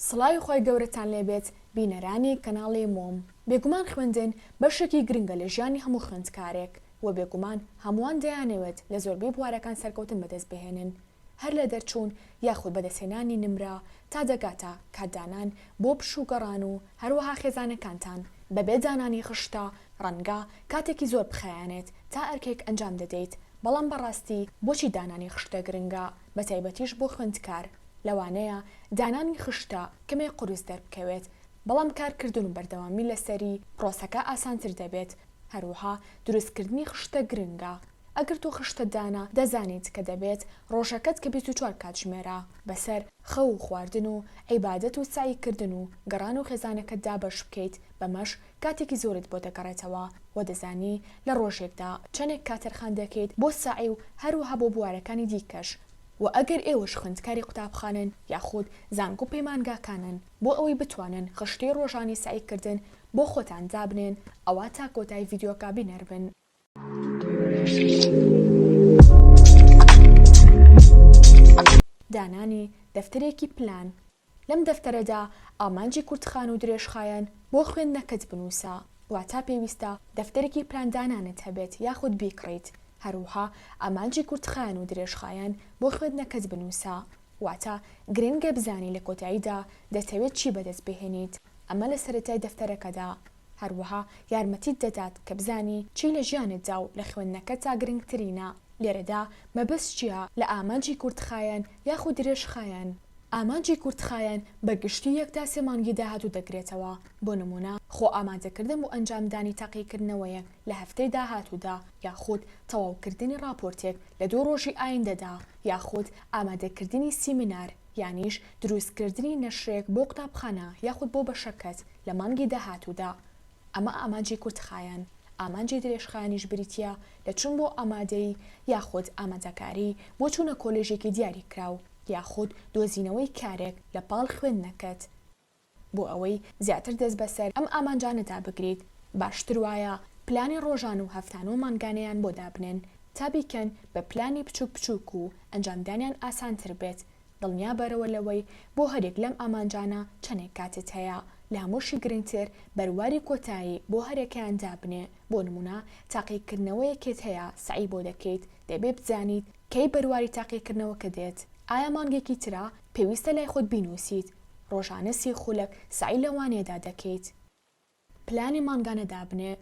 سڵاوی خوای گەورەتان لێ بێت بینەرانی کەناڵی مۆم بێگومان خوێندن بەشێکی گرنگە لە ژیانی هەموو خوێندکارێک وە بێگومان هەمووان دەیانەوێت لە زۆربەی بوارەکان سەرکەوتن بەدەست بهێنن هەر لە دەرچوون یاخود بەدەستهێنانی نمرە تا دەگاتە کات دانان بۆ پشوو گەڕان و هەروەها خێزانەکانتان بەبێ دانانی خشتە ڕەنگە کاتێکی زۆر بخایەنێت تا ئەرکێک ئەنجام دەدەیت بەڵام بەڕاستی بۆچی دانانی خشتە گرنگە بەتایبەتیش بۆ خوێندکار؟ لەوانەیە دانانی خشتە کەمێک قورس دەربکەوێت، بەڵام کارکردن و بەردەوامی لەسەری پرۆسەکە ئاسانتر دەبێت، هەروەها دروستکردنی خشتە گرنگە، ئەگەر تۆ خشتە دانا دەزانیت کە دەبێت ڕۆژەکەت کە بیست و چوار کاتژمێرە بەسەر خەو و خواردن و عیبادەت و سەعیکردن و گەڕان و خێزانەکەتدا بەش بکەیت، بەمەش کاتێکی زۆرت بۆ دەگەڕێتەوە و دەزانی لە ڕۆژێکدا چەنێک کات تەرخان دەکەیت بۆ سەعی و هەروەها بۆ بوارەکانی دیکەش و ئەگەر ئێوەش خوێندکاری قوتابخانەن یاخود زانکۆ پەیمانگاکانن بۆ ئەوەی بتوانن خشتەی ڕۆژانەی سەعیکردن بۆ خۆتان دابنێن ئەوا تا کۆتای ڤیدیۆکە بینەربن. دانانی دەفتەرێکی پلان لەم دەفتەرەدا ئامانجی کورتخان و درێژخایەن بۆ خوێندنەکەت بنووسە، واتا پێویستە دەفتەرێکی پلان دانانت هەبێت یاخود بیکڕیت، هەروەها ئامانجی کورتخایەن و درێژخایەن بۆ خوێندنەکەت بنووسە، واتا گرنگە بزانی لە کۆتاییدا دەتەوێت چی بەدەست بهێنیت، ئەمە لە سەرەتای دەفتەرەکەدا. هەروەها یارمەتیت دەدات کە بزانی چی لە ژیانتدا و لە خوێندنەکەتدا گرنگترینە، لێرەدا مەبەست چییە لە ئامانجی کورتخایەن یاخود درێژخایەن؟ ئامانجی کورتخایەن بە گشتی یەک تا سێ مانگی داهاتوو دەگرێتەوە، بۆ نموونە خۆ ئامادەکردن بۆ ئەنجامدانی تاقیکردنەوەیەک لە هەفتەی داهاتوودا یاخود تەواوکردنی ڕاپۆرتێک لە دوو ڕۆژی ئایندەدا یاخود ئامادەکردنی سیمینار، یانیش دروستکردنی نەشرێک بۆ قوتابخانە یاخود بۆ بەشە کەت لە مانگی داهاتوودا. ئەمە ئامانجی کورتخایەن، ئامانجی درێژخایەنیش بریتییە لە چوون بۆ ئامادەیی یاخود ئامادەکاری بۆ چوونە کۆلێژێکی دیاریکراو یاخود دۆزینەوەی کارێک لەپاڵ خوێندنەکەت. بۆ ئەوەی زیاتر دەست بەسەر ئەم ئامانجانەدا بگریت، باشتر وایە پلانی ڕۆژانە و هەفتانە و مانگانەیان بۆ دابنێن تا بیکەن بە پلانی بچووک بچووک و ئەنجامدانیان ئاسانتر بێت، دڵنیا بەرەوە لەوەی بۆ هەریەک لەم ئامانجانە چەندێک کاتت هەیە، لە هەمووشی گرنگتر بەرواری کۆتایی بۆ هەریەکەیان دابنێ، بۆ نموونە تاقیکردنەوەیەکێت هەیە سەعی بۆ دەکەیت، دەبێ بزانیت کەی بەرواری تاقیکردنەوەکە دێت؟ ئایا مانگێکی ترە؟ پێویستە لای خۆت بینووسیت ڕۆژانە سی خولەک سەعی لە وانەیەدا دەکەیت. پلانی مانگانە دابنێ.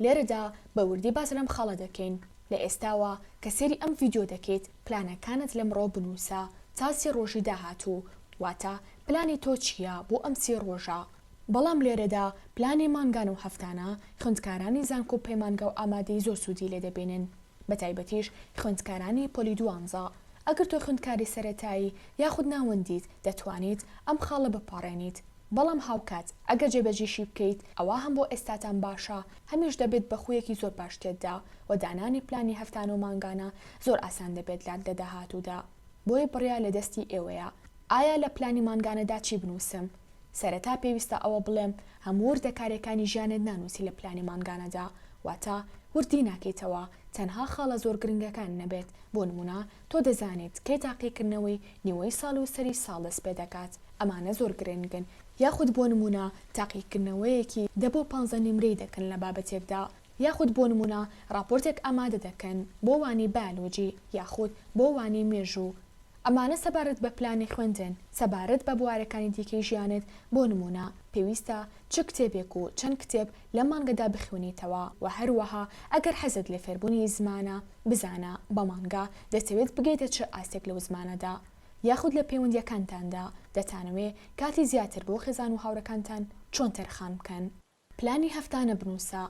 لێرەدا بە وردی باس لەم خاڵە دەکەین، لە ئێستاوە کە سەیری ئەم ڤیدیۆ دەکەیت پلانەکانت لەمڕۆ بنووسە تا سی ڕۆژی داهاتوو، واتە پلانی تۆ چییە بۆ ئەم سی ڕۆژە. بەڵام لێرەدا پلانی مانگانە و هەفتانە خوێندکارانی زانکۆ و پەیمانگا و ئامادەیی زۆر سوودی لێ دەبینن. بەتایبەتیش خوێندکارانی پۆلی دوانزە، ئەگەر تۆ خوێندکاری سەرەتایی یاخود ناوەندیت دەتوانیت ئەم خاڵە بپەڕێنیت، بەڵام هاوکات ئەگەر جێبەجیشی بکەیت ئەوا هەم بۆ ئێستاتان باشە هەمیش دەبێت بە خویەکی زۆر باش تێتدا وە دانانی پلانی هەفتانە و مانگانە زۆر ئاسان دەبێت لات لە داهاتوودا. بۆیە بڕیار لە دەستی ئێوەیە. ئایا لە پلانی مانگانەدا چی بنووسم؟ سەرەتا پێویستە ئەوە بڵێم، هەموو وردەکارییەکانی ژیانت نانووسی لە پلانی مانگانەدا، واتە وردی ناکەیتەوە، تەنها خاڵە زۆر گرنگەکان نەبێت، بۆ نموونە تۆ دەزانیت کەی تاقیکردنەوەی نیوەی ساڵ و سەری ساڵ دەست پێ دەکات، ئەمانە زۆر گرنگن، یاخود بۆ نموونە تاقیکردنەوەیەکی دە بۆ پانزە نیمرەی دەکەن لە بابەتێکدا، یاخود بۆ نموونە ڕاپۆرتێک ئامادە دەکەن بۆ وانەی بایۆلۆجی یاخود بۆ وانەی مێژوو ئەمانە سەبارەت بە پلانی خوێندن سەبارەت بە بوارەکانی دیکەی ژیانت بۆ نموونە پێویستە چ کتێبێک و چەند کتێب لەم مانگەدا بخوێنیتەوە وە هەروەها ئەگەر حەزت لە فێربوونی زمانە بزانە بە مانگا دەتەوێت بگەیتە چ ئاستێک لەو زمانەدا یاخود لە پەیوەندیەکانتاندا دەتانەوێ کاتی زیاتر بۆ خێزان و هاوڕێکانتان چۆن تەرخان بکەن. پلانی هەفتانە بنووسە.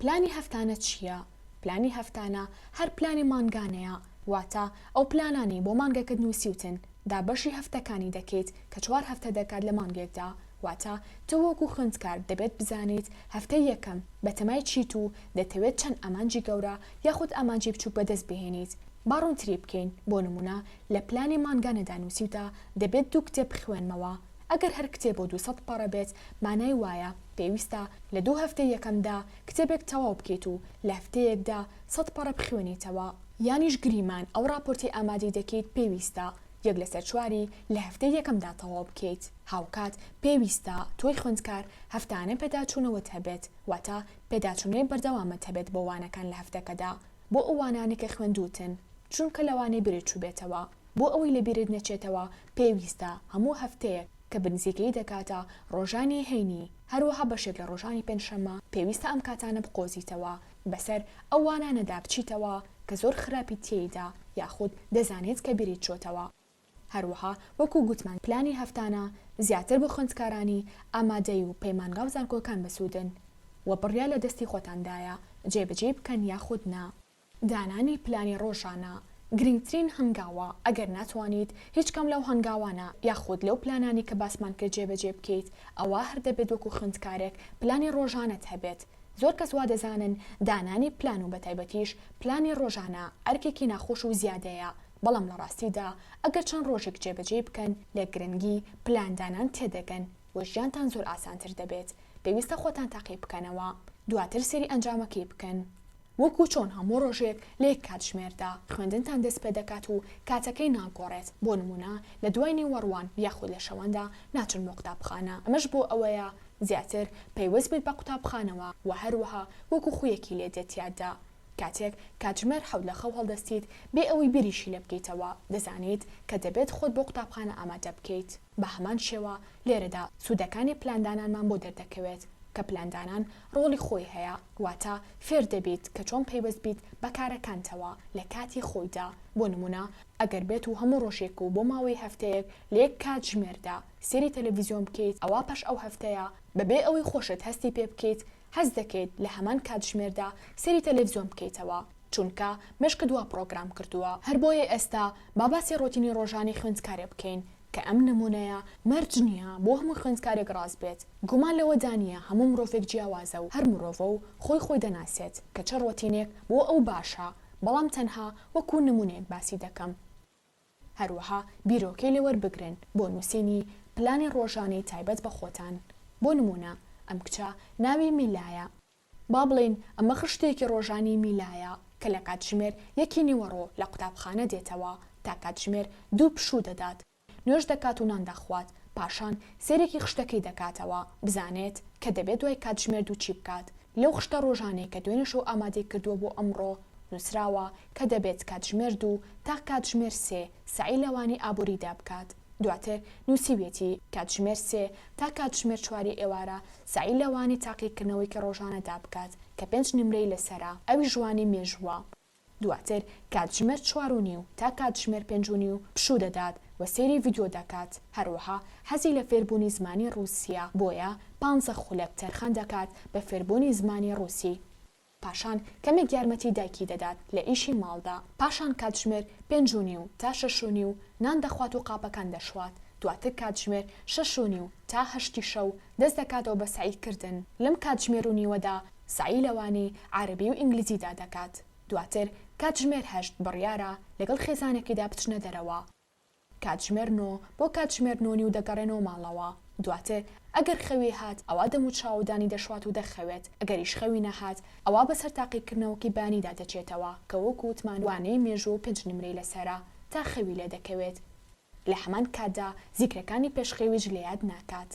پلانی هەفتانە چییە؟ پلانی هەفتانە هەر پلانی مانگانەیە، واتە ئەو پلانانەی بۆ مانگەکەت نووسیوتن، دابەشی هەفتەکانی دەکەیت کە چوار هەفتە دەکات لە مانگێکدا، واتە تۆ وەکو خوێندکار دەبێت بزانیت هەفتەی یەکەم بەتەمای چیت و دەتەوێت چەند ئامانجی گەورە یاخود ئامانجی بچووک بەدەست بهێنیت. با ڕوونتری بکەین، بۆ نموونە لە پلانی مانگانەدا نووسیوتە دەبێت دوو کتێب بخوێنمەوە، ئەگەر هەر کتێب و دوو سەد پەڕە بێت مانای وایە پێویستە لە دوو هەفتەی یەکەمدا کتێبێک تەواو بکەیت و لە هەفتەیەکدا سەد پەڕە بخوێنیتەوە، یانیش گریمان ئەو ڕاپۆرتەی ئامادەی دەکەیت پێویستە یەک لەسەر چواری لە هەفتەی یەکەمدا تەواو بکەیت، هاوکات پێویستە تۆی خوێندکار هەفتانە پێداچوونەوەت هەبێت، واتە پێداچوونەوەی بەردەوامت هەبێت بۆ وانەکان لە هەفتەکەدا بۆ ئەو وانانەی کە خوێندووتن، چونکە لەوانەیە بیرت چووبێتەوە. بۆ ئەوەی لە بیرت نەچێتەوە پێویستە هەموو هەفتەیەک کە بنزیکەی دەکاتە ڕۆژانی هەینی هەروەها بەشێک لە ڕۆژانی پێنجشەممە پێویستە ئەم کاتانە بقۆزیتەوە بەسەر ئەو وانانەدا بچیتەوە کە زۆر خراپیت تێیدا یاخود دەزانیت کە بیریت چۆتەوە هەروەها وەکو گوتمان پلانی هەفتانە زیاتر بۆ خوێندکارانی ئامادەی و پەیمانگاو زانکۆکان بەسوودن وە بڕیار لە دەستی خۆتاندایە جێبەجێی بکەن یاخود نا. دانانی پلانی ڕۆژانە گرنگترین هەنگاوە، ئەگەر ناتوانیت هیچ کام لەو هەنگاوانە یاخود لەو پلانانەی کە باسمان کرد جێبەجێ بکەیت، ئەوا هەر دەبێت وەکو خوێندکارێک پلانی ڕۆژانەت هەبێت. زۆر کەس وا دەزانن دانانی پلان و بەتایبەتیش پلانی ڕۆژانە ئەرکێکی ناخۆش و زیادەیە، بەڵام لە ڕاستیدا ئەگەر چەند ڕۆژێک جێبەجێی بکەن لە گرنگی پلاندانان تێدەگەن و ژیانتان زۆر ئاسانتر دەبێت. پێویستە خۆتان تاقی بکەنەوە دواتر سەیری ئەنجامەکەی بکەن. وەکو چۆن هەموو ڕۆژێک لە یەک کاتژمێردا خوێندنتان دەست پێدەکات و کاتەکەی ناگۆڕێت، بۆ نموونە لە دوای نیوەڕوان یاخود لە شەواندا ناچن بۆ قوتابخانە، ئەمەش بۆ ئەوەیە زیاتر پەیوەست بیت بە قوتابخانەوە و هەروەها وەکو خوویەکی لێ دێت تیادا. کاتێک کاتژمێر حەوت لە خەو هەڵدەستیت بێ ئەوەی بیریشی لێ بکەیتەوە، دەزانیت کە دەبێت خۆت بۆ قوتابخانە ئامادە بکەیت. بە هەمان شێوە لێرەدا سوودەکانی پلاندانانمان بۆ دەردەکەوێت، کە پلاندانان ڕۆڵی خۆی هەیە، واتە فێر دەبیت کە چۆن پەیوەست بیت بە کارەکانتەوە لە کاتی خۆیدا، بۆ نموونە ئەگەر بێت و هەموو ڕۆژێک و بۆ ماوەی هەفتەیەک لە یەک کاتژمێردا سێری تەلەڤیزیۆن بکەیت ئەوا پاش ئەو هەفتەیە بەبێ ئەوەی خۆشت هەستی پێ بکەیت هەست دەکەیت لە هەمان کاتژمێردا سێری تەلەڤیزیۆن بکەیتەوە چونکە مێشکت وا پڕۆگرام کردووە. هەر بۆیە ئێستا با باسی ڕۆتینی ڕۆژانەی خوێندکارێ بکەین کە ئەم نمونەیە مەرج نیە بۆ هەموو خوێندکارێک ڕاست بێت، گومان لەوەدا نیە هەموو مرۆڤێک جیاوازە و هەر مرۆڤە و خۆی خۆی دەناسێت کە چ ڕۆتینێک بۆ ئەو باشە، بەڵام تەنها وەکو نمونەیەک باسی دەکەم. هەروەها بیرۆکەی لێ وەربگرن بۆ نوسینی پلانی ڕۆژانەی تایبەت بە خۆتان، بۆ نمونە ئەم کچە ناوی میلایە، با بڵێین ئەمە خشتێکی ڕۆژانیی میلایە کە لە کاتژمێر یەکی نیوەڕۆ لە قوتابخانە دێتەوە تا کاتژمێر دوو پشوو دەدات، نوێژ دەکات و نان دەخوات، پاشان سەیرێکی خشتەکەی دەکاتەوە بزانێت کە دەبێ دوای کاتژمێر دوو چی بکات، لەو خشتە ڕۆژانەی کە دوێنێ شەو ئامادەی کردووە بۆ ئەمڕۆ نووسراوە کە دەبێت کاتژمێر دوو تا کاتژمێر سێ سەعی لەوانی ئابووریدا بکات، دواتر نووسیویەتی، کاتژمێر سێ تا کاتژمێر چواری ئێوارە سەعی لەوانی تاقیکردنەوەیکی ڕۆژانەدا بکات کە پێنج نمرەی لەسەرە، ئەویش وانی مێژووە، دواتر کاتژمێر چوار و نیو تا کاتژمێر پێنج و نیو پشوو دەدات و سەیری ڤیدیۆ دەکات، هەروەها حەزی لە فێربوونی زمانی ڕووسییە، بۆیە پانزە خولەک تەرخان دەکات بە فێربوونی زمانی ڕووسی. پاشان کەمێک یارمەتی دایکی دەدات لە ئیشی ماڵدا، پاشان کاتژمێر پێنج و نیو تا شەش و نیو نان دەخوات و قاپەکان دەشوات، دواتر کاتژمێر شەش و نیو تا هەشتی شەو دەست دەکاتەوە بە سەعی کردن، لەم کاتژمێر و نیوەدا سەعی لە وانەی عارەبی و ئینگلیزیدا دەکات، دواتر کاتژمێر هەشت بڕیارە لەگەڵ خێزانەکەیدا بچنە دەرەوە، کاتژمێر نۆ بۆ کاتژمێر نۆ نیو دەگەڕێنەوە ماڵەوە. دواتر ئەگەر خەوی هات ئەوا دەموچاوەدانی دەشوات و دەخەوێت، ئەگەریش خەوی نەهات ئەوا بەسەر تاقیکردنەوەکی بەیانیدا دەچێتەوە کە وەکو وتمان وانەی مێژوو و پێنج نمرەی لەسەرە تا خەوی لێدەکەوێت لە هەمان کاتدا زیکرەکانی پێش خەویش لەیاد ناکات.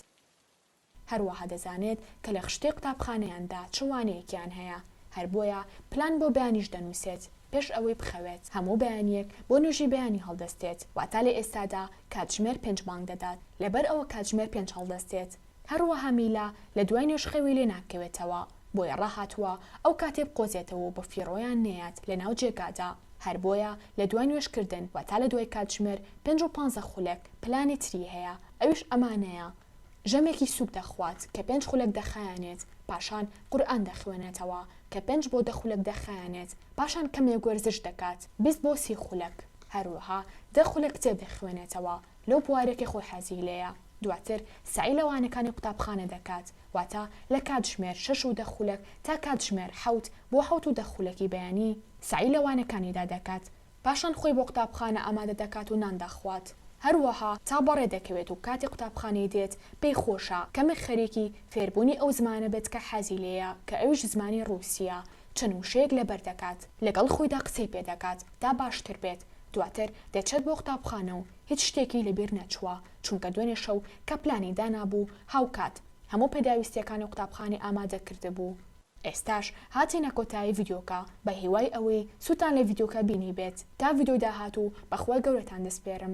هەروەها دەزانێت کە لە خشتەی قوتابخانەیاندا چ وانەیەکیان هەیە، هەر بۆیە پلان بۆ بەیانیش دەنووسێت پێش ئەوەی بخەوێت، هەموو بەیانییەک بۆ نوێژی بەیانی هەڵدەستێت، واتا لە ئێستادا کاتژمێر پێنج بانگ دەدات، لەبەر ئەوە کاتژمێر پێنج هەڵدەستێت، هەروەها میلا لە دوای نوێژ خەوی لێ ناکەوێتەوە، بۆیە ڕاهاتووە ئەو کاتەی بقۆزێتەوە و بە فیڕۆیان نەیات لە ناو جێگادا، هەر بۆیە لە دوای نوێژ کردن واتا لە دوای کاتژمێر پێنج و پانزە خولەک پلانی تری هەیە، ئەویش ئەمانەیە. ژەمێکی سووک دەخوات کە پێنج خولەک دەخایەنێت، پاشان قورئان دەخوێنێتەوە کە پێنج بۆ دە خولەک دەخایەنێت، پاشان کەمێک وەرزش دەکات بیست بۆ سی خولەک، هەروەها دە خولەک کتێب دەخوێنێتەوە لەو بوارەی کە خۆی حەزی لێیە، دواتر سەعی لە وانەکانی قوتابخانە دەکات، واتە لە کاتژمێر شەش و دە خولەک تا کاتژمێر حەوت بۆ حەوت و دە خولەکی بەیانی سەعی لە وانەکانیدا دەکات، پاشان خۆی بۆ قوتابخانە ئامادە دەکات و نان دەخوات. هەروەها تا بەڕێ دەکەوێت و کاتێ قوتابخانەی دێت، پێی خۆشە کەمێک خەریکی فێربوونی ئەو زمانە بێت کە حەزی لێیە کە ئەویش زمانی ڕووسییە، چەند وشەیەک لەبەر دەکات، لەگەڵ خۆیدا قسەی پێ دەکات تا باشتر بێت، دواتر دەچێت بۆ قوتابخانە و هیچ شتێکی لە بیر نەچووە، چونکە دوێنێ شەو کە پلانی دانابوو، هاوکات هەموو پێداویستییەکانی قوتابخانەی ئامادە کردبوو. ئێستاش هاتینە کۆتایی ڤیدیۆکە بە هیوای ئەوەی سوودتان لە ڤیدیۆکە بینیبێت تا ڤیدیۆی داهاتوو بەخوای گەورەتان دەسپێرم.